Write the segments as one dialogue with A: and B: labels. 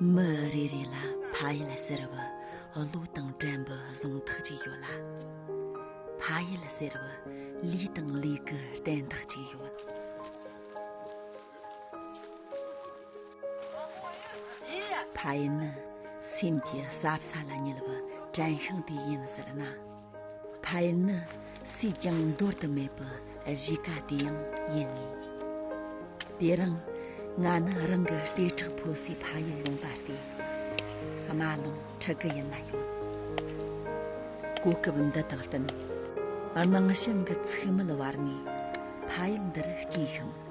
A: མི་རེ་རེ་ལ་ཕ་ཡུལ་ཟེར་བ་བློ་དང་དྲན་པའི་གཟུང་ཐག་ཅིག་ཡོད་ལ་ཕ་ཡུལ་ཟེར་བ་ལུས་དང་ལུས་ཀྱི་བརྟན་ཐག་ཅིག་ཡོད་ད་ཡིན་ན་སེམས་ཀྱི་ཟབ་ས་ལ་ཉལ་བ་དྲན་ཤིང་དེ་ཡིན་ཟེར་ན། ད་ཡིན་ན་སུས་ཀྱང་འདོར་དུ་མེད་པའི་གཞིས་ཀ་དེ་ཡང་ཡིན་ངེས། དེ་རིང་ང་ནི་རང་གི་ལྟེ་ཁྲག་འཕོ་སའི་ཕ་ཡུལ་ལུང་པ་སྟེ་རྨ་ལུང་ཁྲི་དགུ་ཡིན་ན་ཡང། གོ་སྐབས་འདི་དང་བསྟུན་སྣང་ཞིང་གི་ཚུགས་མེད་བར་ནས་ཕ་ཡུལ་འདིར་སྐྱེས་ཤིང།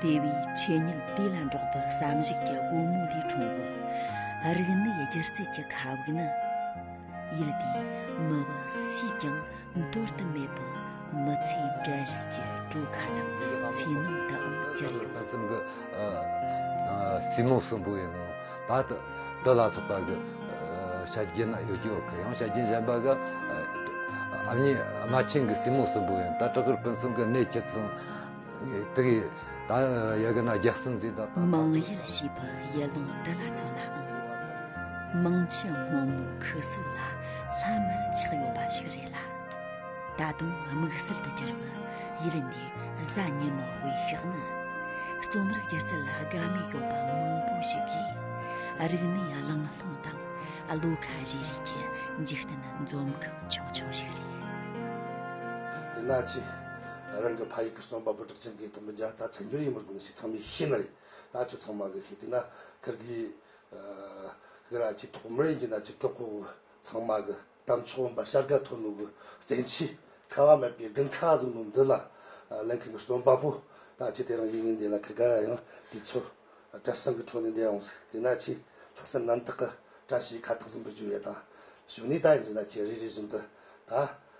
A: དེ་བས་ཆོས་ཉིད་དེ་ལ་འགྲོགས་པའི་བསམ་གཞིག་གི་སྒོ་མོ་ལས་འཁྲུངས་པའི་རིག་གནས་སྒྱུ་རྩལ་གྱི་མཁའ་དབུགས་ནི། ཡུལ་དེའི་མི་བུ་སུས་ཀྱང་འདོར་དུ་མེད་པའི་མི་ཚེའི་འགྲན་བཞུད་ཀྱི་གྲུ་ཁ་དང་ཚེ་ནང་དུའང་གྱུར་ཡོད། ལྷག་བསམ་གྱི་བསིལ་
B: རྨོངས་གསོན་པོ་ཡིན་ནོ། ད་ལྟ་དུ་ལ་སོགས་པ་གི་ཤ་རྒྱན་ན་ཡོད་ཀྱི་ཡང་ཤ་རྒྱན་གཞན་པ་གི་ཨ་མྱེས་རྨ་ཆེན་གྱི་བསིལ་རྨོངས་གསོན་པོ་ཡིན་ད་སྤྲུལ་སྐུར་ཕུན་སུམ་གྱི་གནས་ཀྱི་ཚུལ། མང་ཡུལ་ཞེས་པ་
A: ཡུལ་ལུང་འདི་ལ་མཚོན་ནའང་མང་ཆེ་སྔོན་མོའི་ཁུ་སུ་ལ་ལྷ་མིར་ཆགས་ཡོད་པ་ཞིག་རེད་ལ། ད་དུང་དམིགས་བསལ་དུ་གྱུར་པའི་ཡུལ་འདིའི་གཟའ་ཉི་མ་དཔེ་ཤག་ནི་རྩོམ་རིག་སྒྱུ་རྩལ་ལ་དགའ་མོས་ཡོད་པ་མང་པོ་ཞིག་གིས་རིག་གནས་བླངས་ལྷུང་དང་བློ་ཁ་བཞེས་རེས་ཀྱི་འཇིག་རྟེན་འཛོམས་ཁང་ཆུང་ཆུང་ཞིག་རེད།
C: དེ་ལ་ཅི། ང་རང་གི་ཕ་ཡིག་གི་རྩོམ་པ་པོ་གྲགས་ཅན་གྱི་དམ་པ་རྒྱ་དར་བྱ་འགྱུར་ཡིན་པར་གོང་གསལ་ཚང་མས་ཤེས་ན་རེད་ད་ཁྱོད་ཚང་མ་གི་ཤེས་དུས་ན་ཁིར་གི་ཁིར་ཨ་ཅིའི་ཐོག་མར་ཡིན་གྱི་ན་ཅིག་གྲོགས་པོ་ཚང་མ་གི་གཏམ་ཆོག་འོན་པ་ཤར་དགའ་ཐོ་ནུ་གི་བཙན་གྱིས་ཁ་བ་མེད་པའི་དགུན་ཁ་བཟུང་ནུ་འདི་ལ་གླེང་མཁན་གི་རྩོམ་པ་པོ་ད་ཅིག་དེ་རང་ཡིན་ངེས་འདི་ལ་ཁིར་ག་ར་ཡང་དུས་ཚོད་བཀྲ་སེང་གི་འཕྲོ་ནས་འདས་འོང་ཟེར་དུས་ན་ཅིག་ལྷག་བསམ་རྣམ་དག་གི་བཀྲ་ཤིས་ཁ་ཐག་གཟིམ་པོ་བྱུང་ཡོད་ད་གཞོན་ནུས་ད་ཡིན་གྱི་ན་ཅིག་རེ་རེ་བཞིན་དུ་ད་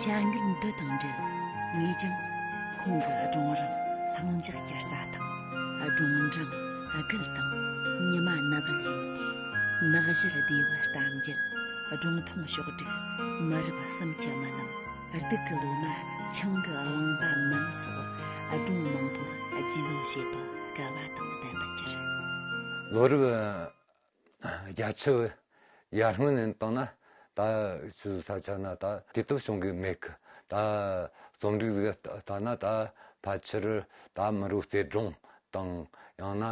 A: བྱ་འགུལ་འདི་དང་འབྲེལ་ངས་ཀྱང་ཁོང་གི་སྒྲུང་རིང་ལྷིང་འཇགས་ཀྱི་རྩྭ་ཐང་སྒྲུང་འབྲིང་སྒུལ་དང་ཉི་མ་ནག་བལ་ཡོད་དེ་ནག་བཞུར་སྡེ་བའི་གཏམ་རྒྱུད་སྒྲུང་ཐུང་ཕྱོགས་བསྒྲིགས་མི་རབས་གསུམ་གྱི་རྨི་ལམ་སྡུག་གི་ལོ་མ་ཆང་གི་རླངས་པ་མིན་སོགས་སྒྲུང་མང་པོ་རྒྱུས་ལོན་བྱེད་པར་སྐལ་བ་དང་ལྡན་པར་གྱུར། ལོ་རབས་
B: རྒྱ་ཆེ་བའི་ཡར་སྔོན་ནས་བཏང་ན་ད་ཆུའི་ས་ཆ་ན་ད་དུས་སྟོབས་བྱུང་གི་མེད་ཀི་ད་རྩོམ་སྒྲིག་གཟིགས་ལྟ་ན་ད་ཕལ་ཆེར་ད་མི་རུ་རྩེ་སྒྲོང་དང་ཡང་ན་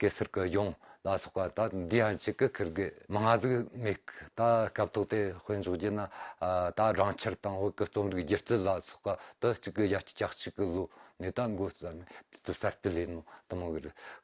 B: གེ་སར་གི་ལྗོངས་ལ་སོགས་པ་ད་འདི་ཡང་གཅིག་གི་ཁིར་གི་མི་ང་གཟིགས་མེད་ཀི་ད་སྐབས་ཐོག་དེ་དཔེ་འཇོག་རྒྱུ་ན་ད་རང་ཁྱེར་དང་བོད་ཀི་རྩོམ་རིག་སྒྱུ་རྩལ་ལ་སོགས་པ་དུ་གཅིག་གི་ཡ་གཅིག་གཅིག་གི་བཟོ་ནས་ད་འགོ་བརྩམས་ནས་དུས་གསར་སྤེལ་ཡིན་ནོ་དུ་མ་གི་རུ།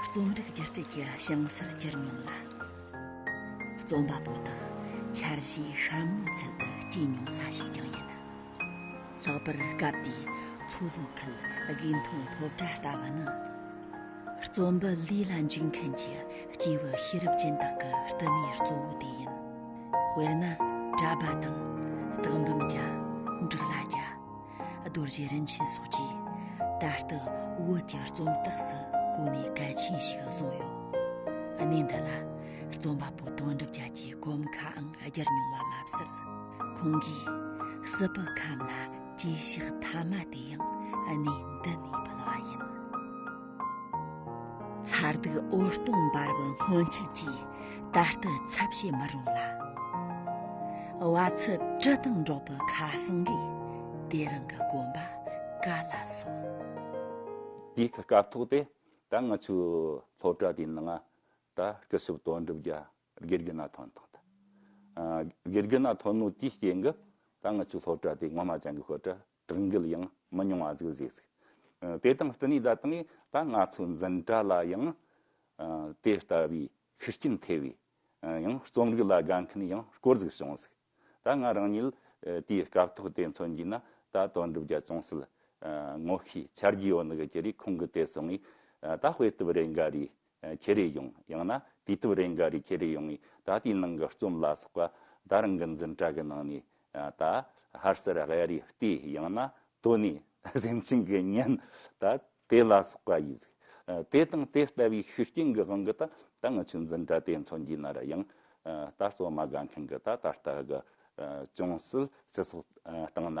A: རྩོམ་རིག་སྒྱུ་རྩལ་གྱི་བྱང་ཚད་གྱུར་མྱོང་ལ། རྩོམ་པ་པོ་དང་འཆར་གཞིའི་ཤར་ངོས་ཚུལ་དུ་སྐྱེས་མྱོང་ས་ཞིག་ཀྱང་ཡིན། ལྷག་པར་སྐབས་དེའི་མཚོ་ལྷོ་ཁུལ་དགེ་འཐུང་སློབ་གྲྭ་ལྟ་བུ་ནི། རྩོམ་པ་ལུས་ལ་འཇུག་མཁན་གྱི་སྐྱེས་བུ་ཤེས་རབ་ཅན་དག་གི་བསྟི་གནས་གཙོ་བོ་དེ་ཡིན། དཔེར་ན་གྲྭ་པ་དང། དག་འབུམ་བརྒྱ། འབྲུག་ལ་བརྒྱ། རྡོ་རྗེ་རིན་ཆེན་སོགས་ཀྱིས་ད་ལྟ་བོད་ཀྱི་རྩོམ་རྟགས་སུ་གོ་ནས་གལ་ཆེན་ཞིག་བཟུང་ཡོད། གནས་འདི་ལ་རྩོམ་པ་པོ་དོན་གྲུབ་རྒྱལ་གྱི་གོམ་ཁའང་བསྒྱུར་མྱོང་བ་མ་ཟད། ཁོང་གིས་སྲིད་པའི་ཁམས་ལ་གྱེས་ཕྱག་མཐའ་མ་དེ་ཡང་གནས་འདི་ནས་ཕུལ་བ་ཡིན། མཚར་སྡུག་འོད་སྟོང་འབར་བའི་སྔོན་ཆད་ཀྱི་ད་ལྟའི་ཚབ་བྱེད་མི་རུང་ལ། བ་ཚྭའི་དྲི་དང་འགྲོགས་པའི་ཁ་སང་གི་དེ་རིང་གི་
D: དགོན་པ་ག་ལ་སོང། དེའི་ཐད་སྐབས་ཐོག་དེ་ད་ང་ཚོའི་སློབ་གྲྭ་དེའི་ནང་ད་སྐུ་ཞབས་དོན་གྲུབ་རྒྱ་དགེ་རྒྱུ་ན་དོན་དང། དགེ་རྒྱུ་ན་དོན་ནོ་དེའི་སྐྱེས་འགབ་ད་ང་ཚོའི་སློབ་གྲྭ་དེའི་ངོ་མ་ཅང་གི་སྐོར་གྲྭ་དྲང་གིལ་ཡང་མི་ཉུང་བ་ཟིག་བཟོས་ཟིག། དེ་དང་བསྟུན་ནས་ད་དུང་ད་ང་ཚོའི་འཛིན་གྲྭ་ལ་ཡང་དེ་ལྟ་བུའི་ཤུགས་རྐྱེན་ཐེབས་པའི་ཡང་རྩོམ་རིག་ལ་དགའ་མཁན་ཡང་སྐོར་ཟིག་བྱུང་ཟིག། ད་ང་རང་ཉིད་དེའི་སྐབས་ཐོག་དེ་མཚོན་གྱིས་ན་ད་དོན་གྲུབ་རྒྱ་ཅུང་ཟད་ངོ་ཤེས་འཆར་གྱི་ཡོད་འདུག་ཅེ་རེ་ཁོང་གི་དེ་སོང་ངས་ད་དཔེ་དེབ་རེ་འགའ་རེའི་ཁྱེད་རེ་ཡོང་ཡང་ན་དུས་དེབ་རེ་འགའ་རེ་ཁྱེད་རེ་ཡོང་ངས་ད་ལྟའི་ནང་གི་རྩོམ་ལ་སོགས་པ་དར་འགི་འཛིན་གྲྭ་གི་ནང་ནས་ད་ཧར་སེར་གཡའ་རི་ལྟས་ཡང་ན་དོ་ནས་སེམས་ཅན་གི་གཉེན་ད་དེ་ལ་སོགས་པ་ཡིས་དེ་དང་དེ་ལྟ་བུའི་ཤུགས་རྐྱེན་གི་དབང་གི་ད་ད་ང་ཆོས་འཛིན་གྲྭ་དེ་ཚོ་འདི་ན་ར་ཡང་ད་རྩོམ་མ་དགའ་མཁན་གི་ད་ད་ལྟ་གི་ཅུང་ཟད་སྤྱི་ཚོགས་སྟེང་ན་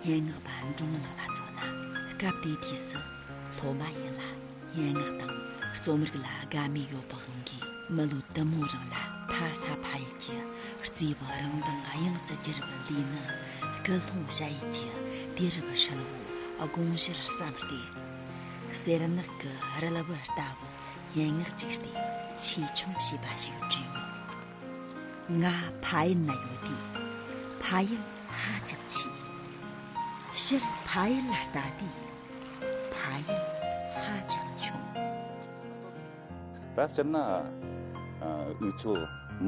A: སྙན་ངག་པ་འབྲུག་མོ་ལགས་ལ་མཚོན་ན་སྐབས་དེའི་དུས་སུ་སློབ་མ་ཡིན་ལ་སྙན་ངག་དང་རྩོམ་རིག་ལ་དགའ་མོས་ཡོད་པའི་དབང་གིས་མི་ལོ་དུ་མའི་རིང་ལ་ཕ་ས་ཕ་ཡུལ་གྱི་གཙོས་པའི་རང་མདངས་དབྱིངས་སུ་གྱེར་བའི་ལུས་ནི་སྐུ་སློང་བྱ་ཡུལ་གྱི་དུས་རབས་ཧྲིལ་བོའི་དགོངས་གཞིར་བསམས་ཏེ། གསེར་ནག་གི་རིལ་བུ་ལྟ་བུའི་སྙན་ངག་ཅིག་སྟེ་ཆེ་ཆུང་ཞེས་པ་ཞིག་བྲིས་མོད། ང་ཕའི་ན་ཡོད་དེ་ཕ་ཡུལ་
D: ཧ་ཅང་ཆེ། ཕྱིར་ཕ་ཡུལ་ལ་ལྟ་དུས་ཕ་ཡུལ་ཧ་ཅང་ཆུང། བར་སྤྱིར་ན་འུ་ཚོ་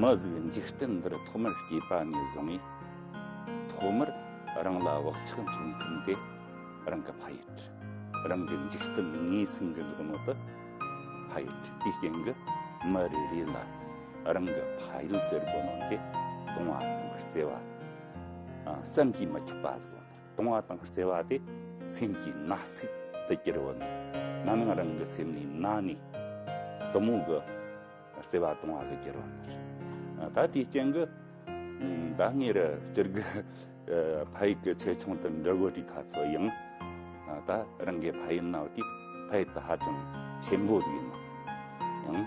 D: མི་གཟུགས་འཇིག་རྟེན་འདིར་ཐོག་མར་སྐྱེས་པ་ནས་བཟུང་ངས་ཐོག་མར་རང་ལ་བག་ཆགས་འཚོལ་མཁན་དེ་རང་གི་ཕ་ཡུལ། རང་གི་འཇིག་རྟེན་ངོས་ཟིན་གྱི་འདུག་མོད། ཕ་ཡུལ་དེའི་སྟེང་གི་མི་རེ་རེ་ལ་རང་གི་ཕ་ཡུལ་བཙལ་དགོས་ནོ་འདི་སྟོང་བ་དང་བརྩེ་བ། བསམ་གྱིས་མི་ཁྱབ་པ་བཟོ་ནི་སྟོང་བ་དང་བརྩེ་བ་དེ་སེམས་ཀྱི་ན་ཟུག་ཏུ་གྱུར་བ་ནི་ན་ནིང་རང་གི་སེམས་ནི་ན་ནི་དུ་མོ་གི་བརྩེ་བ་སྟོང་བ་གི་གྱུར་བ་ནི་རེད། ད་དེའི་རྐྱེན་གི་ད་ངེད་རི་སྤྱིར་གི་ཕ་ཡུལ་གི་ཆེ་ཆུང་དང་འབྲི་བོ་དྲི་ཐ་ཚོ་ཡང་ད་རང་གི་ཕ་ཡུལ་ན་བ་དེ་ཕ་ཡུལ་དུ་ཧ་ཅང་ཆེན་པོ་ཟིག་ཡིན་ནོ། ཡང།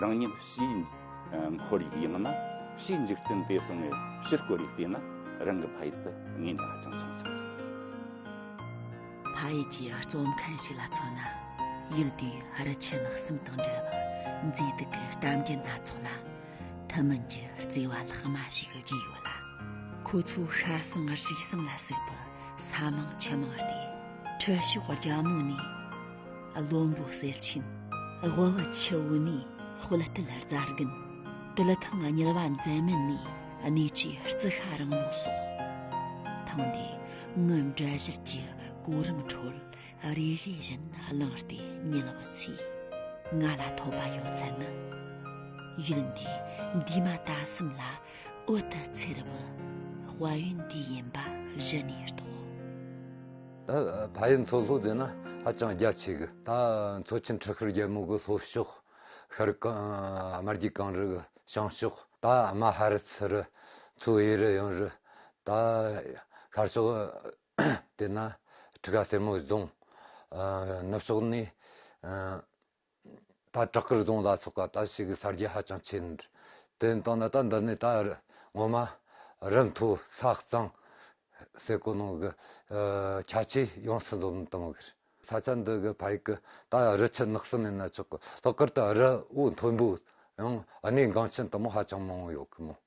D: རང་ཉིད་ཕྱིའི་འཁོར་ཡུག་ཡང་ན་ཕྱིའི་འཇིག་རྟེན་དེ་སོང་ངས་ཕྱིར་བསྐོར་ཡུག་བལྟས་ན་རང་གི་ཕ་ཡུལ་དུ་ངའི་ནང་ཧ་ཅང་ཆུང་ཆུང་ཞིག་རེད།
A: ཕ་ཡུལ་གྱི་གཙོ་མཁན་ཞིག་ལ་མཚོན་ན་ཡུལ་དེའི་རི་ཆེན་ལྷག་གསུམ་དང་འབྲེལ་བའི་མཛེས་སྡུག་གི་གཏམ་རྒྱུད་སྣ་ཚོགས་ལ་ཐུན་མིན་གྱི་བརྩེ་བ་ལྷག་མ་ཞིག་བརྗོད་ཡོད་ལ། ཁོ་ཚོའི་ཤ་གསེང་རིག་གསུམ་ལ་གཟིགས་པའི་ས་མིང་ཆུ་མིང་སྟེ་ཁྲི་ཤོག་རྒྱ་མོ་ནས། བློན་པོ་གསེར་ཆེན་དབུ་བ་ཆུ་བོ་ནས་དཔལ་དུལ་རྫ་རྒན་དུལ་ཐང་གཉིས་པ་མཛད་མན་ནས་གནས་གྲས་རྩི་ཤ་རིང་མོ་སོགས་ཐང་འདི་སྔོན་འབྲས་གཞིར་གྱི་གོ་རིམ་ཁྲོད་རེ་རེ་བཞིན་བླངས་ཏེ་ཉལ་བ་ཚོས་ང་ལ་ཐོབ་པ་ཡོད་ཚད་ནི་ཡུལ་འདི་འདུས་མ་ད་གསུམ་ལ་འོད་དུ་འཚེར་བའི་དཔལ་ཡོན་དེ་ཡིན་པ་གཞི་ནས་རྟོགས།
B: ཕ་ཡུལ་མཚོ་ལྷོ་དེ་ནི་ཧ་ཅང་རྒྱ་ཆེ་གི། ད་མཚོ་ཆེན་ཁྲི་ཤོར་རྒྱལ་མོ་གི་ལྷོ་ཕྱོགས། ཤར་དམར་རྒྱུད་གངས་རི་གི་བྱང་ཕྱོགས། ད་རྨ་ཧ་རི་ཚུ་རི་མཚོའི་གཡས་རི་གཡོན་རི། ད་ཤར་ཕྱོགས་དེ་ནི་ཁྲི་ཀ་སེར་མོའི་རྫོང། ནུབ་ཕྱོགས་ནི་ད་བྲག་དཀར་རྫོང་ལ་སོགས་ད་ཕྱིས་ཀྱི་གསར་བརྗེ་ཧ་ཅང་ཆེ། དེ་ནི་དང་ད་འདི་ནས་ད་ངོ་མ་རི་མཐོ་ས་གཙང་སའི་གོ་ནོར་གྱི་ཆ་ཆས་ཡོངས་སུ་འཛོམས་གཏོང་བ་རེད། ས་ཆ་འདི་གའི་ཕ་ཡུལ་གྱི་ད་རི་ཆུ་ནགས་སུ་མེད་ན་ཆོག་གི་ལྷག་དཀར་ད་རི་དབུགས་མཐོན་པོའང་གནས་འགངས་ཆེན་དུ་མ་ཧ་ཅང་མང་བོ་ཡོད་ཀྱི་མོད།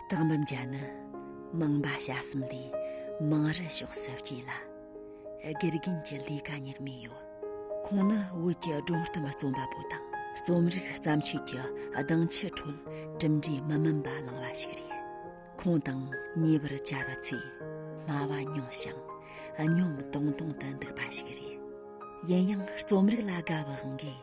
A: རྟགས་འབུམ་བརྒྱ་ནི་མིང་འབའ་ཞལ་གསུམ་ལས་མིང་རུ་ཕྱོགས་སུ་བསྐྱེད་ལ། དགེ་རྒན་གྱི་ལས་ཀ་གཉེར་མུས་ཡོད། ཁོང་ནི་བོད་ཀྱི་སྒྲུང་གཏམ་རྩོམ་པ་པོ་དང་རྩོམ་རིག་བརྩམས་ཆོས་ཀྱི་གདེང་ཆའི་ཁྲོད་གྲུབ་འབྲས་མི་དམན་པ་བླངས་པ་ཞིག་རེད། ཁོང་དང་ཉེ་བར་བཅར་བ་ཚོས་སྨྲ་བ་ཉུང་ཞིང་གཉོམ་དུང་དུང་དུ་འདུག་པ་ཞིག་རེད། ཡིན་ཡང་རྩོམ་རིག་ལ་དགའ་བའང་དགོས།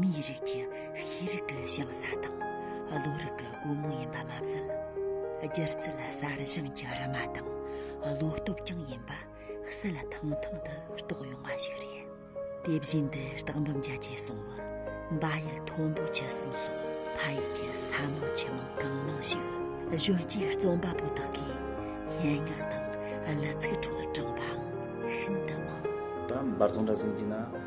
A: མིའི་རིགས་ཀྱི་ཤེས་རིག་གི་བྱང་ས་དང་བློ་རིག་གི་སྒོ་མོ་ཡིན་པ་མ་ཟད། སྒྱུ་རྩལ་གསར་བཞེངས་ཀྱི་རིལ་མ་དང་བློ་སྟོབས་ཀྱང་ཡིན་པ་གསལ་ཐང་ཐང་དུ་རྟོགས་ཡོང་བ་ཞིག་རེད། དེ་བཞིན་དུ་སྟག་འབུམ་རྒྱལ་གྱིས་གསུངས་བ། འབའ་ཡུལ་མཐོན་པོ་བཅུ་གསུམ་སོགས་ཕ་ཡུལ་གྱི་ས་མང་ཆུ་མང་གང་མང་ཞིག་གཞོན་སྐྱེས་རྩོམ་པ་པོ་དག་གིས་སྙན་ངག་དང་གླུ་ཚིག་ཁྲོད་དྲངས་པའང་ཤིན་ཏུ་མང། ད་འབར་རྫོང་སྦྲ་
E: གཟིངས་ཀྱི་ན་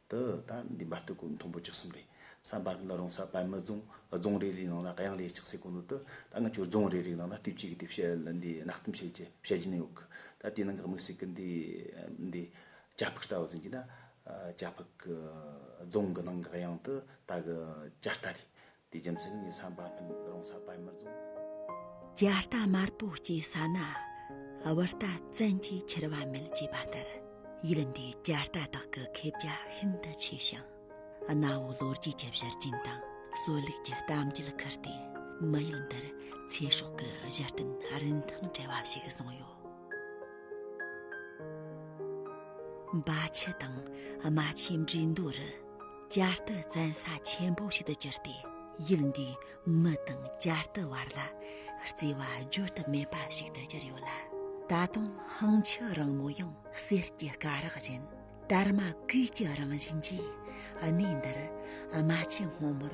E: དུ་ད་འདི་འབར་དུ་ཀུན་མཐོང་པོ་བཅུ་གསུམ་རེད་བསམ་པར་འདི་རང་ས་དཔལ་མི་རྫོང་རྫོང་རེ་རེའི་ནང་ལ་གཡང་ལས་ལྕགས་སའི་གོ་ནོར་དུ་ད་སྔ་ཆུ་རྫོང་རེ་རེའི་ནང་ལ་ལྟེབ་ཅིག་གི་ལྟེབ་བྱ་འདི་གནག་གཏུམ་བྱེད་ཀྱི་བྱ་རྒྱུ་ནི་ཡོད་གི་ད་དེའི་ནང་གི་དམིགས་བསལ་གི་འདི་འདི་བྱ་ཕུག་ལྟ་བུ་ཟིན་གྱི་ན་བྱ་ཕུག་རྫོང་གི་ནང་གི་གཡང་དུ་ད་གི་བྱ་རྟ་རེད་དེ་རྒྱུ་མཚན་ངས་བསམ་པ་ལྷུན་རང་ས་པད་མར་བཟུང། རྒྱ་
A: རྟ་དམར་པོ་སྐྱེ་ས་ན་དབུ་རྟ་བཙན་གྱིས་ཁྱེར་བ་མེད་ཅེས་པ་ལྟར་ཡུལ་འདིའི་རྒྱ་རྟ་དག་གི་མཁས་རྒྱ་ཤིན་ཏུ་ཆེ་ཞིང། གནའ་བོའི་ལོ་རྒྱུས་ཀྱི་གཞིར་བྱིན་དང་སྲོལ་ལུགས་ཀྱི་གཏམ་རྒྱུད་ཁུར་ཏེ་མི་ཡུལ་འདིར་ཚེ་སྲོག་གི་གཞི་རྟེན་རིན་ཐང་བྲལ་བ་ཞིག་བཟུང་ཡོད། འབའ་ཆུ་དང་རྨ་ཆུའི་འགྲེས་མདོ་རུ། བསྐྱར་དུ་བཙན་ས་ཆེན་པོ་ཞིག་ཏུ་གྱུར་ཏེ་ཡུལ་འདིའི་མི་དང་བསྐྱར་དུ་བར་ལ་བརྩེ་བ་བརྗོད་དུ་མེད་པ་ཞིག་ཏུ་གྱུར་ཡོད་ལ། ད་དུང་ཧང་ཆི་རིང་མོ་ཡང་གསེར་གྱི་སྐ་རགས་བཞིན་དར་མ་གུས་ཀྱི་རང་བཞིན་གྱིས་གནས་འདིར་རྨ་ཆེན་སྔོན་མོར་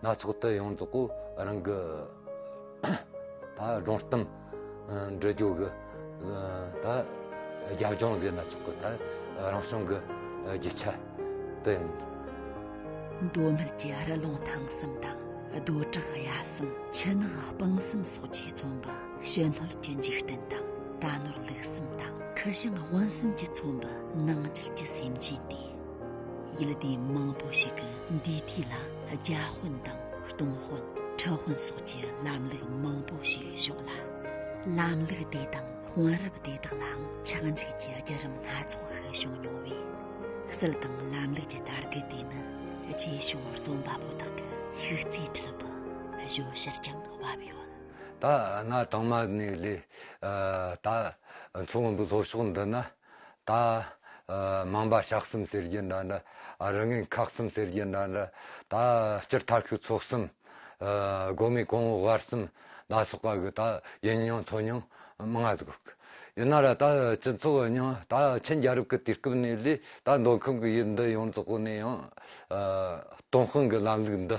B: སྣ་ཚོགས་དུད་ཡོངས་རྫོགས་སྐུ་རང་གི། ད་སྒྲོང་གཏུམ་འདྲི་རྒྱུ་གི། ད་རྒྱབ་ལྗོངས་ཟེར་སྣ་ཚོགས་ཀྱི། ད་རང་བྱུང་གི་རྒྱུ་ཆ་དེ། འདོད་མོས་
A: ཀྱི་རི་ལུང་ཐང་གསུམ་དང། རྡོ་བྲག་གཡའ་གསུམ་ཆུ་ནག་སྤང་གསུམ་སོགས་ཀྱིས་མཚོན་པ། ཕྱི་སྣོད་ཀྱི་འཇིག་རྟེན་དང་རྟ་ནོར་ལུག་གསུམ་དང། ཁུ་བྱང་དབོན་གསུམ་གྱིས་མཚོན་པ། ནང་རྒྱུད་ཀྱི་སེམས་ཅན་ཏེ། ཡི་ལ་དེ་མང་པོ་ཞིག་གི་འདུས་དུས་ལ་རྒྱ་དཔོན་དང་སྟོང་དཔོན་ཁྲི་དཔོན་སོགས་ཀྱི་ལམ་ལུགས་མང་པོ་ཞིག་བཞོགས་ལ། ལམ་ལུགས་དེ་དང་དཔོན་རབས་དེ་དག་ལའང་ཆག་འཇིག་གི་བརྒྱུད་རིམ་སྣ་ཚོགས་ཤིག་བྱུང་མྱོང་བས། སྲིད་དང་ལམ་ལུགས་ཀྱི་དར་རྒུད་དེ་ནི་རྗེས་བྱུང་རྩོམ་པ་པོ་དག་གི་ཤུགས་རྩིས་ཁྲོད་དུ་བཞོགས་ཕྱིར་ཀྱང་བབས་ཡོད། ད་ང་
B: གྲངས་མ་ནས་ལས་ད་མཚོ་སྔོན་པོའི་ལྷོ་ཕྱོགས་འདི་ན། ད། མང་པ་ཞག་གསུམ་ཟེར་རྒྱུ་འདྲ་འདྲ། རང་ངན་ཁག་གསུམ་ཟེར་རྒྱུ་འདྲ་འདྲ། ད། སྤྱིར་ཐབས་ཤུགས་ཚོགས་གསུམ། སྒོ་མེད་གོང་འོག་བར་གསུམ། ད་སོགས་པ་གི་ད་ཡིན་མྱོང་ཐོས་མྱོང། མངའ་བདག། ཡིན་ན་ར་ད་སྤྱི་ཚོགས་ཡིན་མྱོང་ད་ཆིན་རྒྱལ་རབས་ཀྱི་དུས་སྐབས་ནས་ལས་ད་མདོ་ཁམས་ཀྱི་ཡུལ་འདི་ཡོངས་རྫོགས་ནས་ཡང། སྟོང་དཔང་གི་ལམ་ལུགས་འདི།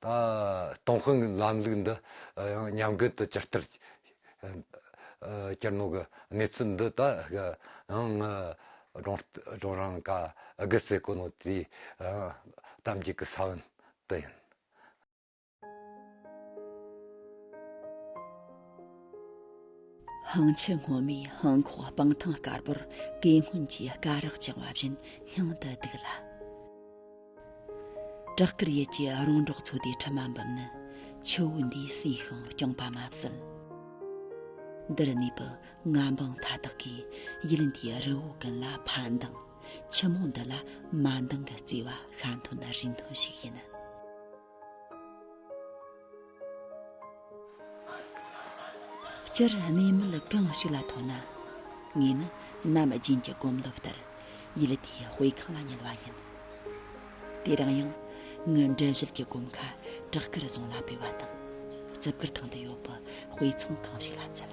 B: ཏུང་ཧྥུང་ལམ་ལུགས་འདི་ཡང་ཉམས་རྒུད་དུ་གྱུར་ལྟར། སྤྱིར་ནོར་གྱི་གནས་ཚུལ་འདི་དག་ཡང་ངའི་སྒྲུང་རང་དགའ་དགུ་སེ་གོ་ནོ་ཏིའི་གཏམ་རྒྱུད་ཀྱི་ས་བོན་དུ་ཡིན།
A: ཧང་ཆི་སྔོན་མོས་ཧོང་ཁོག་སྤང་ཐང་དཀར་པོར་དེ་སྔོན་གྱི་སྐ་རགས་བཅིངས་བ་བཞིན་སྙིང་དུ་སྡུག་ལ། བྲག་དཀར་ཡུལ་གྱི་རོང་འབྲོག་ཚོ་དེའི་ཁྲི་མ་འབུམ་ནི་ཆུ་བོ་འདིའི་སྲིད་ཤིང་རྐྱང་པ་མ་ཟད། འདིར་གནས་པའི་རྔ་འབངས་མཐའ་དག་གིས་ཡུལ་འདིའི་རི་བོ་ཀུན་ལ་ཕ་མདང། ཆུ་མོ་འདི་ལ་མ་མདང་གི་བརྩེ་བ་ཤ་མཐུན་རིགས་མཐུན་ཞིག་ཡིན། སྤྱིར་གནས་མལ་གང་ཞིག་ལ་མཐོང་ན། ངས་ནི་ནམ་རྒྱུན་གྱི་གོམས་ལོབས་ལྟར་ཡུལ་དེའི་དཔེ་ཁང་ལ་ཉུལ་བ་ཡིན། དེ་རིང་ཡང་ངའི་འགྲེལ་བཤད་ཀྱི་གོམ་ཁ་བྲག་དཀར་རྫོང་ལ་སྤོས་པ་དང། རྩིབས་དཀར་ཐང་དུ་ཡོད་པའི་དཔེ་ཚོང་ཁང་ཞིག་ལ་བཙལ།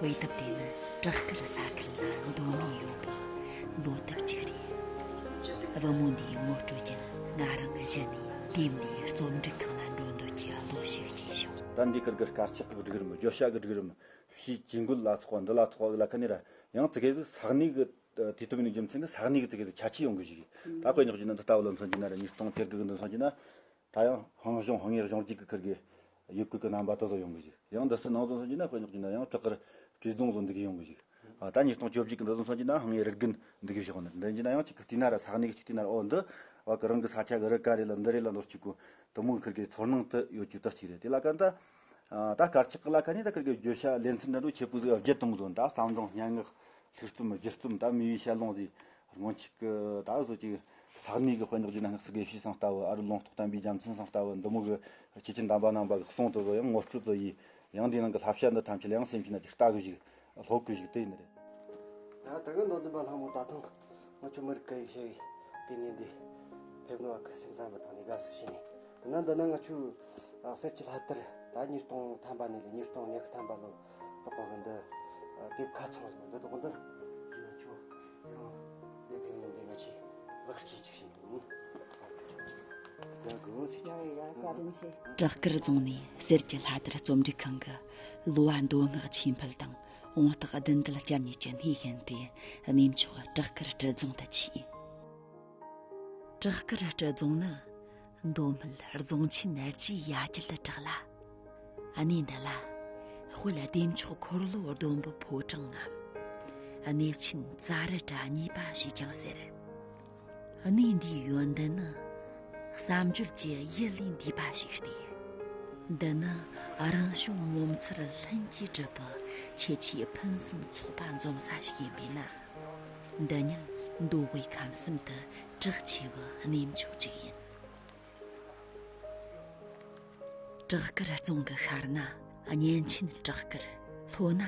A: དབྱེ་ཐབས་དེ་ནི་བྲག་དཀར་ས་ཁུལ་ལ་འདོད་མོས་ཡོད་པའི་བློ་ཐབས་གཅིག་རེད། བུ་མོ་འདིའི་ངོ་སྤྲོད་ཀྱང་ང་རང་གཞི་ནས་དུས་འདིའི་རྩོམ་སྒྲིག་ཁང་ལ་འགྲོ་འདོད་ཀྱི་བློ་ཞིག་སྐྱེས་བྱུང། ད་འདི་གར་གི་སྐར་
E: ཆག་གི་སྒྲིག་རིམ་བརྗོད་བྱ་གི་སྒྲིག་རིམ་ཞེས་ཇི་འགོད་ལ་ཚོགས་པ་འདི་ལ་ཚོགས་པ་གི་ལ་ཁ་ནས་ར་ཡང་ཙི་གེ་ཟི་ས་གནས་གི་དུས་སྟོན་གི་རྒྱུ་མཚན་གི་ས་གནས་གི་ཙི་གེ་ཟི་ཆ་ཆེ་ཡོང་གི་ཞིག་ད་དཔེ་ཉག་གཅིག་ནི་འདི་ལྟ་བུ་ལ་མཚོན་གྱི་ན་ར་ཉིས་སྟོང་དེར་གི་གི་འདི་མཚོན་གྱི་ན། ད་ཡང་ཧང་ཞོང་ཧང་ངེར་ཞོང་གཅིག་གི་ཁུར་གི་ཡུག་ཁུག་གི་རྣམ་པ་དེ་ཚོ་ཡོང་གི་ཞིག་ཡང་འདི་སུ་ནང་རྫོང་སོན་གྱི་ན་དཔེ་ཉོག་གྱི་ན་ཡང་བྲག་དཀར་བྲིས་རྫོང་བཟོ་འདུག་གི་ཡོང་གི་ཞིག་ད་ཉིས་སྟོང་བཅོ་བཞི་གི་འདི་རྫོང་སོན་གྱི་ན་ཧང་ངེ་རིག་གི་འདུག་གི་ཞོག་ནི་འདི་གྱི་ན་ཡང་གཅིག་གི་དུས་ན་ར་ས་གནས་གི་གཅིག་དུས་ན་ར་ཨོ་འདི་བ་གི་རང་གི་ས་ཆ་གི་རི་ག་རེ་ལ་འདི་རེ་ལ་འདོར་གཅིག་གོ་དུ་མོ་གི་ཁུར་གི་ཚོར་སྣང་དུ་ཡོད་རྒྱུ་དུ་གཅིག་རེད་དེ་ལ་ཀ་ད་ད་དཀར་ཆག་གི་ལ་ཁ་ནས་ད་ཁུར་གི་བརྗོད་བྱ་ལེ་ཚན་འགྲན་བསྡུར་བྱེད་པོ་ཟིག་བརྒྱད་སྟོང་བཟོ་ད་བསམ་སྒྲུང་སྙན་ངག་ལྷུག་རྩོམ་བརྒྱུད་རྩོམ་ད་མི་བའི་ཞལ་ལུང་ཟིག་རང་ཅག་གི་ད་གཟོད་ཅིག། ས་གནས་ཀྱི་དཔོན་དག་བརྒྱུད་ན་སྔགས་སུ་དགེ་བཤེས་སང་ལྟ་བུ་ཨ་རུ་ལུང་རྟོགས་དམ་པའི་རྒྱལ་མཚན་སང་ལྟ་བུ་འདི་མོ་གི། ཁྱེད་ཀྱི་འདམ་པ་ནང་པ་གི་གསུང་དུ་བཟོ་ཡང་ངོ་སྤྲོད་དུ་ཡི། ཡང་འདིའི་ནང་གི་ལྷ་བྱ་འདི་ཐམས་ཅད་ལ་ཡང་སེམས་ཤིང་ན་ཅིག་ལྟ་གི་བཞུགས། ལྷོད་གི་བཞུགས་དེ། ཡང་
C: དག་མདོ་འཛིན་པ་ལྷ་མོ་ད་དུང་ངོ་ཆོས་མི་རིགས་སྐད་ཡིག་བྱ་བའི་དེ་ཉིད་འདི། ཕེབས་ནུ་བ་ཁི་སིམ་ཟམ་པ་དང་ནི་དགའ་བསུ་བྱས་ནས་དེ་ན་འདི་ན་ང་ཆུ། གསེར་གྱི་ལྷ་ལྟར་ད་ཉིས་སྟོང་ཐམ་པ་ནས་ལས་ཉིས་སྟོང་ཉི་ཁི་ཐམ་པ་ལོ།
A: བྲག་དཀར་རྫོང་ནས་གསེར་གྱི་ལྷ་དར་རྩོམ་སྒྲིག་ཁང་གི་གླུ་བ་མདོ་སྔགས་ཆོས་འཕེལ་དང་དབང་རྟགས་བདུན་དཀར་སྐྱབས་གཉིས་ཀྱི་སྣེ་ཤན་པས་གནས་མཆོག་བྲག་དཀར་སྤྲུལ་རྫོང་དུ་མཆིས། བྲག་དཀར་སྤྲུལ་རྫོང་ནི། མདོ་སྨད་རྫོང་ཆེན་ནར་གྱིས་ཡ་བསྐྱིལ་དུ་གྲགས་ལ། གནས་འདི་ལ། དཔལ་ལྡེ་མཆོག་འཁོར་ལོ་ཟླུམ་པོ་ཕོ་བྲང་ངམ། གནས་ཆེན་རྩ་རི་བྲ་གཉིས་པ་ཞེས་ཀྱང་ཟེར། གནས་འདིའི་ཡོན་ཏན་ནི། བསམ་བརྗོད་ཀྱི་ཡུལ་ལས་འདས་པ་ཞིག་སྟེ། འདི་ནི་རང་བྱུང་ངོ་མཚར་ལྷུན་གྱིས་གྲུབ་པའི་ཁྱད་ཆོས་ཕུན་སུམ་ཚོགས་པ་འཛོམས་ས་ཞིག་ཡིན་པས་ན། འདི་ཉིད་མདོ་དབུས་ཁམས་གསུམ་དུ་གྲགས་ཆེ་བ་གནས་མཆོག་ཅིག་ཡིན། བྲག་དཀར་རྫོང་གི་ཤར་ན་གཉན་ཆེན་བྲག་དཀར། ལྷོ་ན་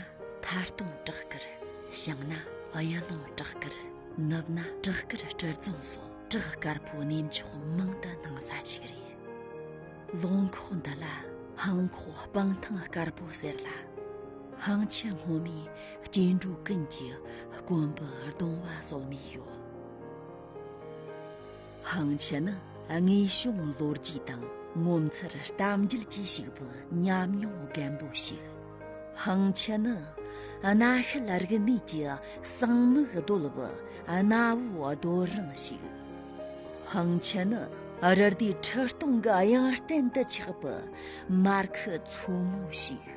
A: ཐར་སྟོང་བྲག་དཀར། བྱང་ན་གཡུ་ལུང་བྲག་དཀར། ནུབ་ན་བྲག་དཀར་སྤྲུལ་རྫོང་སོགས་བྲག་དཀར་པོ་གནས་མཆོག་མང་དུ་སྣང་ས་ཞིག་རེད། ལུང་ཁོག་འདི་ལ་ཧང་ཁོག་སྤང་ཐང་དཀར་པོ་ཟེར་ལ། ཧང་ཆེན་སྔོན་མའི་སྐྱེ་འགྲོ་ཀུན་གྱི་དཀོན་པོ་གདུང་བ་སོགས་གནས་ཡོད། ཧང་ཆི་ནི་དངོས་བྱུང་ལོ་རྒྱུས་དང་ངོ་མཚར་གཏམ་རྒྱུད་ཀྱིས་བྱུགས་པའི་ཉམས་མྱོང་རྒན་པོ་ཞིག། ཧང་ཆི་ནི་གནའ་ཤུལ་རིག་གནས་ཀྱི་གསང་དམིགས་རྡོལ་བུ་གནའ་བོའི་རྡོ་རིང་ཞིག། ཧང་ཆི་ནི་རི་ཟླའི་ཁྲི་སྟོང་གི་དབྱངས་གཏན་དུ་ཆགས་པའི་མར་ཁུ་མཚོ་མོ་ཞིག།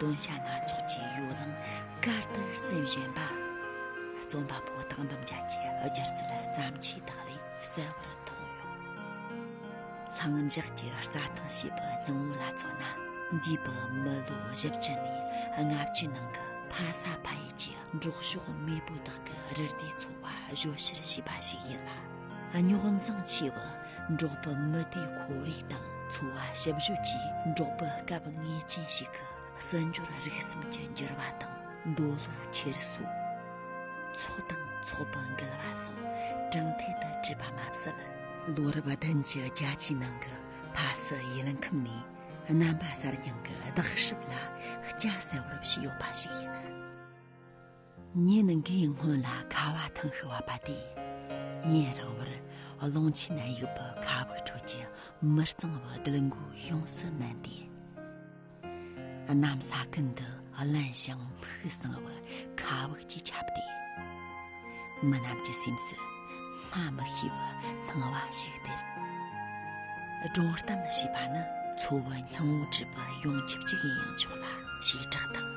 A: དོན་བྱ་སྣ་ཚོགས་ཀྱི་ཡོ་ལང་དཀར་དུ་རྩེན་བཞིན་པ། རྩོམ་པ་པོ་དག་འདུམ་བྱ་ཆེ་སྒྱུར་ཚུལ་བརྩམས་ཆོས་དག་ལས་གསལ་བོར་མཐོང་ཡོང། ལྷིང་འཇགས་ཀྱི་རྩྭ་ཐང་ཞེས་པའི་སྙིང་བོ་ལ་མཚོན་ན། འདས་པའི་མི་ལོ་བཞི་བཅུ་ནས་ལྔ་བཅུའི་ནང་གི་ཕ་ས་ཕ་ཡུལ་གྱི་འབྲོག་ཕྱོགས་མེས་པོ་དག་གི་རི་ཟླའི་འཚོ་བ་གཞོལ་བཤེར་བྱས་པ་ཞིག་ཡིན་ལ། རྙོག་འཛིང་ཆེ་བ་འབྲོག་པ་མི་སྡེ་ཁོར་ཡུག་དང་འཚོ་བ་ཞིབ་བཤེར་གྱིས་འབྲོག་པའི་སྐབས་ངེས་ཅན་ཞིག་གི་སྲིད་འབྱོར་རིག་གསུམ་གྱི་འགྱུར་བ་དང་འདོད་བློ་འཁྱེར་སོ། ཚོགས་དང་ཚོགས་པ་འགལ་བ་སོགས་དྲང་ཐད་དུ་བྲིས་པ་མ་ཟད། ལོ་རབས་བདུན་གྱི་རྒྱལ་སྤྱིའི་ནང་གི་ཕ་སི་ཡུལ་ཁམས་ནས་རྣམ་པ་གསར་རྐྱང་གི་བརྟག་ཞིབ་ལ་སྐྱ་བསལ་བར་བྱས་ཡོད་པ་ཞིག་ཡིན། ངས་ནི་འགའི་སྔོན་ལ་ཁ་བ་ཐང་ཤོར་བ་པ་དེ་ཡིན་རང་བར་ཀློང་ཆེན་ནད་གཡོག་པོ་ཁ་བུག་ཁྲོད་ཀྱི་མི་གཙང་བོ་དིལ་མགོའི་གཤོངས་སུ་མནན་ཏེ། གནམ་ས་ཀུན་ཏུ་བརླན་ཞིང་ཕུགས་བཟང་བོའི་ཁ་བུག་ཅིག་ཁྱབ་སྟེ། མི་རྣམས་ཀྱི་སེམས་སུ། སྔ་མི་ཤེས་པར་སྣང་བ་ཞིག་སྟེ། སྒྲོ་གཏམ་ཞེས་པ་ནི་འཚོ་བའི་སྙིང་བོ་སྒྲིབ་པ་ཡོངས་ཁྱབ་ཅིག་ཡིན་ཡང་ཆོག་ལ་བྱེ་བྲག་དང་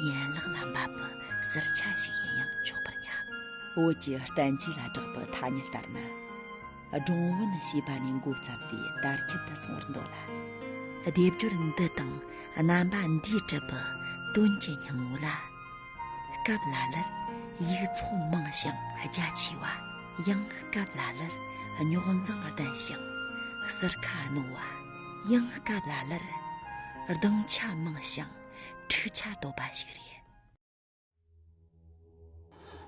A: ཡན་ལག་ལ་འབབ་པའི་གསེར་ཆ་ཞིག་ཡིན་ཡང་ཆོག་པར་སྙམ། བོད་ཀྱི་བསྟན་བཅོས་ལ་བསྒྲགས་པའི་ཐ་སྙད་ལྟར་ན། སྒྲུང་བོན་ཞེས་པ་ནས་འགོ་བརྩམས་ཏེ་དར་ཁྱབ་ཏུ་སོང་བར་འདོད་ལ། སྡེབ་སྦྱོར་འདི་དང་རྣམ་པ་འདིས་གྲུབ་པའི་དོན་གྱི་སྙིང་བོ་ལ། སྐབས་ལ་ལར་ཡིག་ཚོགས་མང་ཞིང་རྒྱ་ཆེ་བ། ཡང་སྐབས་ལ་ལར་རྙོག་འཛིང་ལྡན་ཞིང་གསེར་ཁ་རྣོ་བ། ཡང་སྐབས་ལ་ལར་གདེང་ཆ་མང་ཞིང་འཁྲུག་ཆ་དོད་པ་ཞིག་རེད།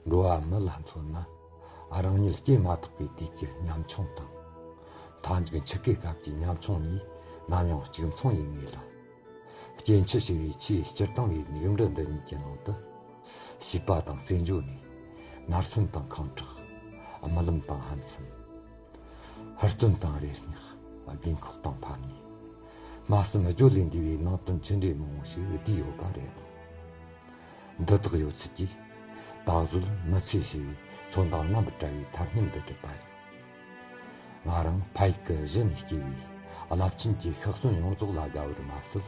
A: འགྲོ་
B: བ་མི་ལ་མཚོན་ན་རང་ཉིད་སྐྱེས་མ་ཐག་པའི་དུས་ཀྱི་ཉམ་ཆུང་དང། མཐའ་མཇུག་འཆི་ཁའི་སྐབས་ཀྱི་ཉམ་ཆུང་གཉིས་ནམ་ཡང་གཅིག་མཚུངས་ཡིན་ངེས་ལ། སྐྱེ་འཆི་ཞི་བའི་ཆེས་སྤྱིར་བཏང་བའི་མིག་འབྲས་འདི་གཉིས་ཀྱི་ནང་དུ། བྱིས་པ་དང་རྩེད་འཇོ་ནི། ནར་མཚོན་དང་ཁང་ཁྲག། རྨི་ལམ་དང་ཧམ་སེམས། ཧུར་བརྩོན་དང་རེ་སྙེག། རྒན་འཁོགས་དང་ཕམ་ཉེས། སྨྲ་སེམས་སྦྱོར་ལས་འདས་པའི་ནང་དོན་ཆེ་འབྲས་མང་བོ་ཞིག་བསྡུས་ཡོད་པ་རེད་ཨང། འདི་དག་ཡོད་ཚད་ཀྱིས། ད་གཟོད་མི་ཚེ་ཞི་བའི་མཚོན་རྟགས་རྣམ་པར་བཀྲ་བའི་མཐར་སྙན་འདི་བསྒྲུབས་པ་ཡིན། ང་རང་ཕ་ཡི་སྐུ་བཞི་ནས་སྐྱེས་པས་རླབས་ཆེན་གྱི་ཤག་བཙོན་ཡོངས་རྫོགས་ལ་དགའ་བར་མ་ཟད།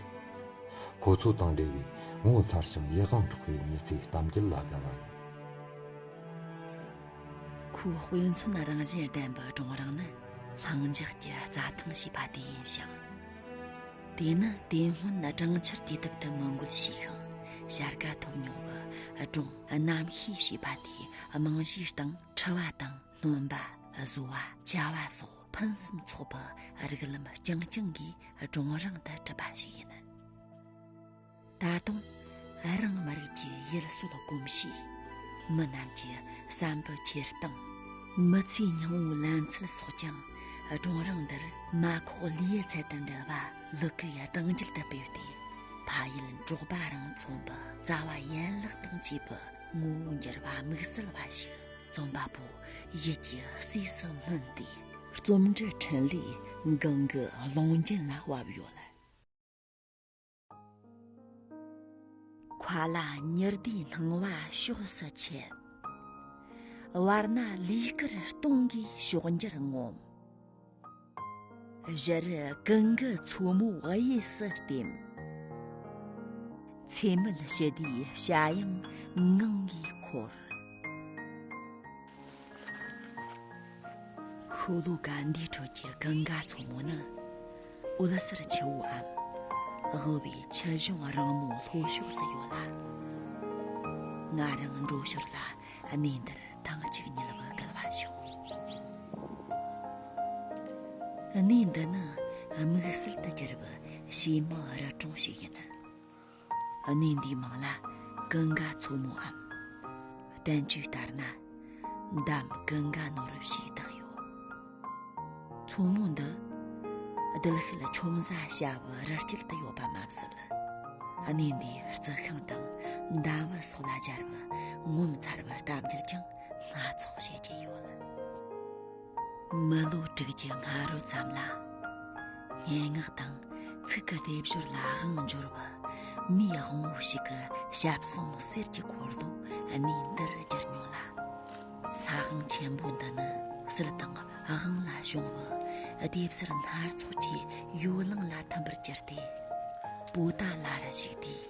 B: ཁོ་ཚོ་དང་འབྲེལ་བའི་ངོ་མཚར་ཞིང་ཡིད་དབང་འཕྲོག་པའི་གནས་ཚུལ་གཏམ་རྒྱུད་ལ་དགའ་བ་ཡིན།
A: ཁོའི་དཔེ་མཚོན་རང་བཞིན་ལྡན་པའི་གྲོང་རིང་ནི་ལྷིང་འཇགས་ཀྱི་རྩྭ་ཐང་ཞེས་པ་དེ་ཡིན་ཞིང། དེ་ནི་དེ་སྔོན་གྲང་ཆར་བསྐྱེད་ཐབས་དུ་མི་འགོད་ཞེས་ཤིང་བྱ་དགའ་ཐོབ་མྱོང་བའི་སྒྲུང་གནམ་གཤིས་ཞེས་པ་དེའི་རྨང་གཞིའི་སྟེང་འཁྲི་བ་དང། སྟོན་པ་བཟོ་བ་བྱ་བ་སོགས་ཕུན་སུམ་ཚོགས་པ་རིགས་ལམ་རྐྱང་རྐྱང་གིས་སྒྲུང་རིང་དུ་གྲུབ་པ་ཞིག་ཡིན། ད་དུང་རང་མི་རིགས་ཀྱི་ཡུལ་སྲོལ་གོམས་གཤིས། མི་རྣམས་ཀྱི་བསམ་པའི་འཁྱེར་སྟངས། མི་ཚེའི་སྙིང་བོའི་ལམ་ཚུལ་སོགས་ཀྱང་སྒྲུང་རིང་འདིར་མ་ཁོག་ལི་ཡི་ཚལ་དང་འདྲ་བ་ལི་ཀི་ཡི་གདངས་རྒྱུད་དུ་སྤེལ་ཏེ་ཕ་ཡུལ་འབྲོག་པ་རང་མཚོ་འདི་རྩ་བ་ཡན་ལག་དང་བཅས་པའི་ངོ་བོ་འགྱུར་བ་དམིགས་བསལ་བ་ཞིག་རྩོམ་པ་པོ་ཡིད་ཀྱི་སྲིད་སུ་སྨིན་ཏེ། རྩོམ་འབྲི་འཕྲིན་ལས་འགང་གི་ཀློང་རྒྱན་ལ་བབས་ཡོད། ཁོ་ལ་མྱུར་བདེའི་སྣང་བ་ཕྱོགས་སུ་ཁྱེར། བར་སྣང་ལུས་དཀར་སྟོང་གི་ཕྱོགས་འགྱུར་ངོམས། གཞི་རུ་ཀུན་དགའ་མཚོ་མོ་དབྱི་སི་བསྟིམ། ཚེ་མེད་ཞི་བདེའི་བྱ་དབྱངས་ངང་གིས་འཁོར། ཤོ་ལོ་ཀ་འདིའི་ཁྲོད་ཀྱི་ཀུན་དགའ་མཚོ་མོ་ནི་འོད་ཟེར་ཆུ་བོའམ། དབུལ་བའི་ཆུ་གཞུང་རིང་མོའི་ལྷོ་ཕྱོགས་སུ་ཡོད་ལ། ང་རང་འགྲོ་ཞོར་ལ། གནས་འདིར་ཐང་གཅིག་ཉིལ་བུ་བརྒལ་བ་བྱུང། གནས་འདི་ནི་དམིགས་བསལ་དུ་གྱུར་པའི་བྱེ་མའི་རི་གྲོང་ཞིག་ཡིན། གནས་འདིའི་མིང་ལ་ཀི་འགའ་མཚོ་མོའམ། བསྟན་བཅོས་ལྟར་ན་འདམ་ཀི་འགའ་ནོར་བུ་ཞེས་བཏགས་ཡོད། མཚོ་མོ་འདི་རྡུལ་ཤུལ་ཆོམ་བཟའ་བྱ་བའི་རི་དཀྱིལ་དུ་ཡོད་པ་མ་ཟད། གནས་འདིའི་རྩི་ཤིང་དང་ཟླ་བ་སོགས་ལ་སྦྱར་བའི་ངོ་མཚར་བའི་གཏམ་རྒྱུད་ཀྱང་སྣ་ཚོགས་བཤད་ཀྱི་ཡོད། མི་ལོ་དྲུག་ཅུ་སྔ་རོལ་ཙམ་ལ་སྙན་ངག་དང་ཚིག་གི་སྡེབ་སྦྱོར་ལ་དབང་བསྒྱུར་བའི་མིའི་དབང་བོ་ཞིག་གི་ཞབས་ཟུང་གསེར་གྱི་འཁོར་ལོ་གནས་འདིར་བསྒྱུར་མྱོང་ལ། ས་ཨང་ཆེན་པོ་འདི་ནི་སིལ་དང་ཨང་ལ་བྱུང་བ་ལྡེབས་གསར་སྣར་ཚོགས་ཀྱི་ཡོ་ལང་ལ་འཐམ་པར་གྱུར་ཏེ་པོ་ཏཱ་ལ་ར་ཞིག་དེའི་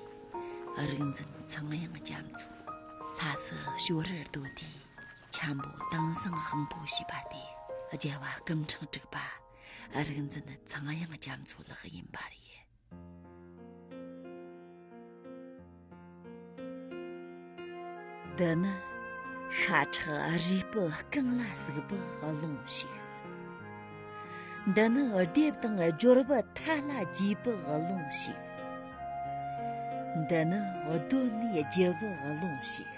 A: རིག་འཛིན་ཚངས་དབྱངས་རྒྱ་མཚོ་ལྷ་སི་ཞོ་རར་བསྡོད་དེ་འཁྱམས་པོ་དིང་བསང་ཧང་པོ་བྱས་པ་དེ་རྒྱལ་བ་སྐུ་འཕྲེང་དྲུག་པ་རིག་འཛིན་ཚངས་དབྱངས་རྒྱ་མཚོ་ལགས་ཡིན་པ་རེད། འདི་ནི་ཤ་ཁྲག་རུས་སྤུ་རྐང་ལ་ཟུག་པའི་རླུང་ཞིག་འདི་ནི་སྡེབ་དང་སྦྱོར་བ་མཐའ་ལ་རྒྱས་པའི་རླུང་ཞིག་འདི་ནི་གདོད་མའི་རྒྱལ་བའི་རླུང་ཞིག་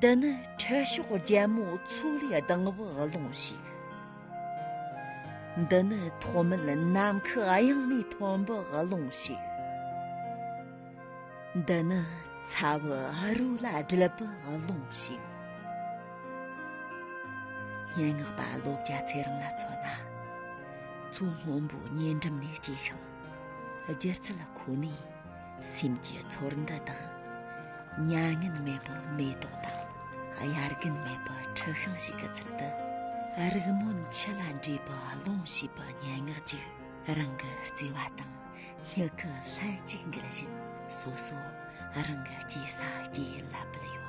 A: འདི་ནི་ཁྲི་ཕྱོགས་རྒྱལ་མོ་མཚོ་ལས་ལྡང་བའི་རླུང་ཞིག་འདི་ནི་ཐོག་མེད་ནམ་མཁའི་དབྱིངས་ནས་ཐོན་པའི་ཀློང་ཞིག། འདི་ནི་ཚ་བའི་རུ་ལ་སྦྲིད་པའི་ཀློང་ཞིག། སྙན་ངག་པ་བློ་རྒྱ་ཚེ་རིང་ལ་མཚོན་ན། མཚོ་སྔོན་པོའི་ཉེ་འགྲམ་ནས་སྐྱེས་ཤིང་སྒྱུ་རྩལ་ཁོ་ནའི། སེམས་ཀྱི་ཚོར་འདུ་དང། མྱ་ངན་མེད་པའི་མེ་ཏོག་དང། དབྱར་དགུན་མེད་པའི་ཁྲི་ཤིང་ཞིག་གི་ཚུལ་དུ། རིག་སྨོན་འཆི་ལ་འདྲིས་པའི་ཀློང་ཞེས་པའི་སྙན་ངག་ཅིག་རང་གི་བརྩེ་བ་དང་སྙིང་གི་ལྷན་ཅིག་འགལ་བཞིན་སོ་སོ་རང་གི་སྐྱེས་ས་སྐྱེས་ཡུལ་ལ་འབུལ་ཡོད།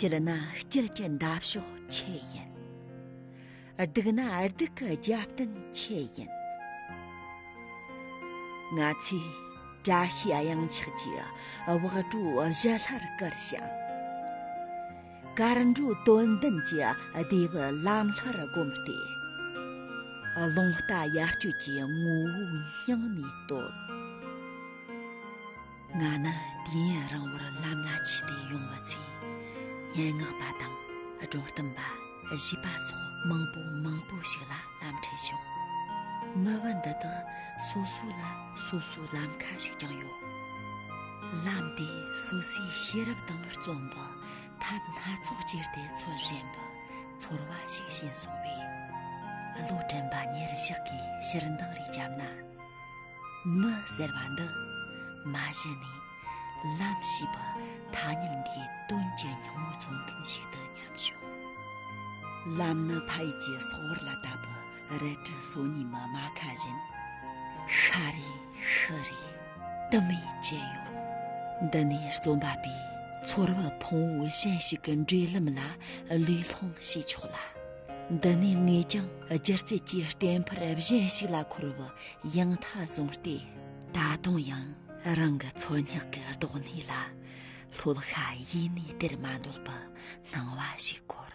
A: སྐྱིད་ན་སྐྱིད་ཀྱི་འདབ་གཤོག་ཆེད་ཡིན། སྡུག་ན་སྡུག་གི་རྒྱབ་རྟེན་ཆེད་ཡིན། ང་ཚོས་བཀྲ་ཤིས་གཡང་ཆགས་ཀྱི་བག་གྲོ་བཞི་ལྷར་བཀུར་ཞིང། དཀར་འགྲོའི་དོན་ལྡན་གྱི་བདེ་བའི་ལམ་ལྷར་བསྒོམ་སྟེ། ལུང་རྟ་ཡར་སྐྱོད་ཀྱི་ངོ་བོའི་སྙིང་ནས་བསྟོད། ང་ནི་དུས་ཡུན་རིང་བོར་ལམ་ལ་ཆས་ཏེ་ཡོང་བ་ཚོས་སྙན་ངག་པ་དང་སྒྲོ་གཏུམ་པ་བཞི་པ་སོགས་མང་པོ་མང་པོ་ཞིག་ལ་ལམ་འཕྲད་བྱུང། མི་བུ་འདི་དག་སོ་སོ་ལ་སོ་སོའི་ལམ་ཁ་ཞིག་ཀྱང་ཡོད། ལམ་དེ་སོ་སོའི་ཤེས་རབ་དང་རྩོམ་པ་ཐབས་སྣ་ཚོགས་སྤྱད་དེ་འཚོལ་བཞིན་པའི་ཚོར་བ་ཞིག་བྱིན་སོང་བས། བློ་དྲན་པ་ཉེར་བཞག་གི་ཕྱིར་འདང་རེ་བརྒྱབ་ན། མི་ཟེར་བ་འདི་མ་གཞི་ནས་ལམ་ཞེས་པ་ཐ་སྙད་འདིའི་དོན་གྱི་སྙིང་བོ་མཚོན་མཁན་ཞིག་ཏུ་སྙམ་བྱུང། ལམ་ནི་ཕ་ཡུལ་གྱི་སོག་བར་ལ་ལྟ་བུ་རལ་གྲི་སོ་གཉིས་མི་རྨ་ཁ་བཞིན། ཤ་རེ་ཤི་རེ་དུ་མས་བཅད་ཡོད། འདི་ནས་རྩོམ་པ་པོས་ཚོར་བ་ཕུང་བོ་གཞན་ཞིག་གི་འབྲེལ་ལམ་ལ་ལུས་སློང་བྱས་ཆོག་ལ། འདི་ནས་ངས་ཀྱང་སྒྱུ་རྩལ་གྱི་གཏན་འཕར་གཞན་ཞིག་ལ་འཁོར་བ་ཡང་མཐའ་བཟུང་སྟེ། ད་དུང་ཡང་རང་གི་འཚོ་སྙེག་གི་རྡོག་སྣེ་ལ་ལྷོད་ཤ་ཡེ་ནས་སྟེར་མ་འདོད་པའི་སྣང་བ་ཞིག་འཁོར།